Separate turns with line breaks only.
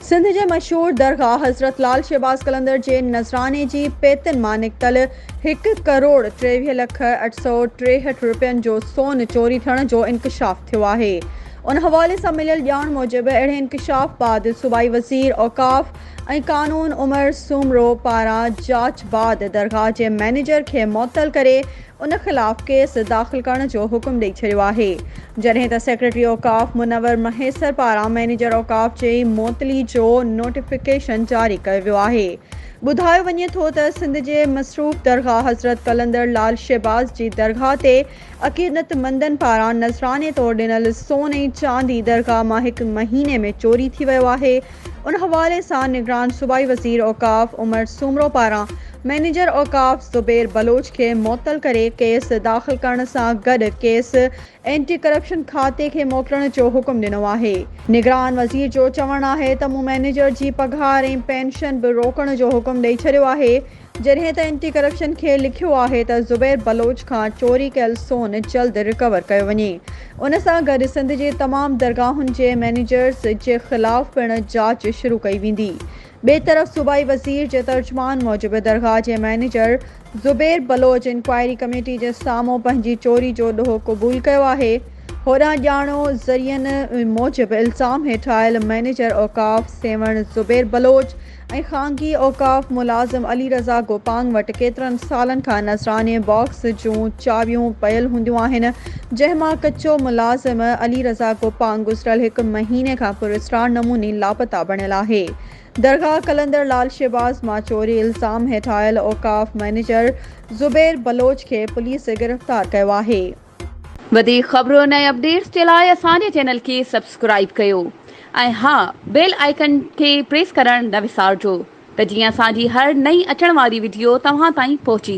سنڌ جي مشهور درگاهه حضرت لعل شهباز قلندر جي نذراني جي پيتن مان نڪتل هڪ ڪروڙ ٽيويهه لک اٺ سؤ ٽيهٺ رپين جو سون چوري ٿيڻ جو انڪشاف ٿيو آهي ان حوالي سان مليل ڄاڻ موجب اهڙي انڪشاف بعد صوبائي وزير اوقاف ۽ قانون عمر سومرو پاران جاچ بعد درگاهه جي مئنيجر کي معطل ڪري ان خلاف ڪيس داخل ڪرڻ جو حڪم ڏئي ڇڏيو آهي جڏهن ته سيڪريٽري اوقاف منور مهيسر پاران مئنيجر اوقاف جي معطلي جو نوٽيفڪيشن جاري ڪيو ويو آهي ٻڌايو وڃي ٿو ته سنڌ جي مصروف درگاهه حضرت قلندر لعل شهباز جي درگاهه تي عقيدتمندن پاران نذراني طور ڏنل سون ۽ چاندي درگاهه مان هڪ مهيني ۾ چوري ٿي ويو آهي، ان حوالي سان نگران صوبائي وزير اوقاف عمر سومرو پاران مئنيجر اوقاف زبير بلوچ کي معطل ڪري ڪيس داخل ڪرڻ سان گڏ ڪيس اينٽي ڪرپشن کاتي کي موڪلڻ جو حڪم ڏنو آهي. نگران وزير جو چوڻ آهي ته مون مئنيجر جي پگهار ۽ پينشن به روڪڻ جو حڪم ڏئي ڇڏيو آهي، جڏهن ته اينٽي ڪرپشن کي لکيو آهي ته زبير بلوچ کان چوري ڪيل سون جلد رڪور ڪيو وڃي. ان سان گڏ سنڌ جي تمام درگاهن جي مئنيجرز جي خلاف پڻ جاچ شروع ڪئي ويندي. ٻئي طرف صوبائي وزير جي ترجمان موجب درگاهه جي manager Zubair Baloch inquiry committee جي سامهون پنهنجي چوري جو ڏوهه قبول ڪيو آهي. هوڏانهن ڄاڻو ذريعن موجب الزام هيٺ آيل مئنيجر اوقاف سيوهڻ زبير بلوچ ۽ خانگي اوقاف ملازم علي رضا گوپانگ وٽ ڪيترن سالن کان نذراني باڪس جون چاٻيون پيل هونديون آهن، جنهن مان ڪچو ملازم علي رضا گوپانگ گذريل هڪ مهيني کان پراسرار نموني لاپتا بڻيل آهي. درگاهه قلندر لال شهباز مان چوري الزام هيٺ آيل اوقاف مئنيجر زبير بلوچ کي پوليس گرفتار ڪيو آهي. وڌيڪ
خبرن ۽ اپڊيٽس جي لاء اسان جي چينل کي سبسڪرائيب ڪيو ۽ ها بيل آئيڪن کي پريس ڪرڻ نه وسارجو ته جيئن اسان جي هر نئين اچڻ واري وڊيو توهان تائين پهچي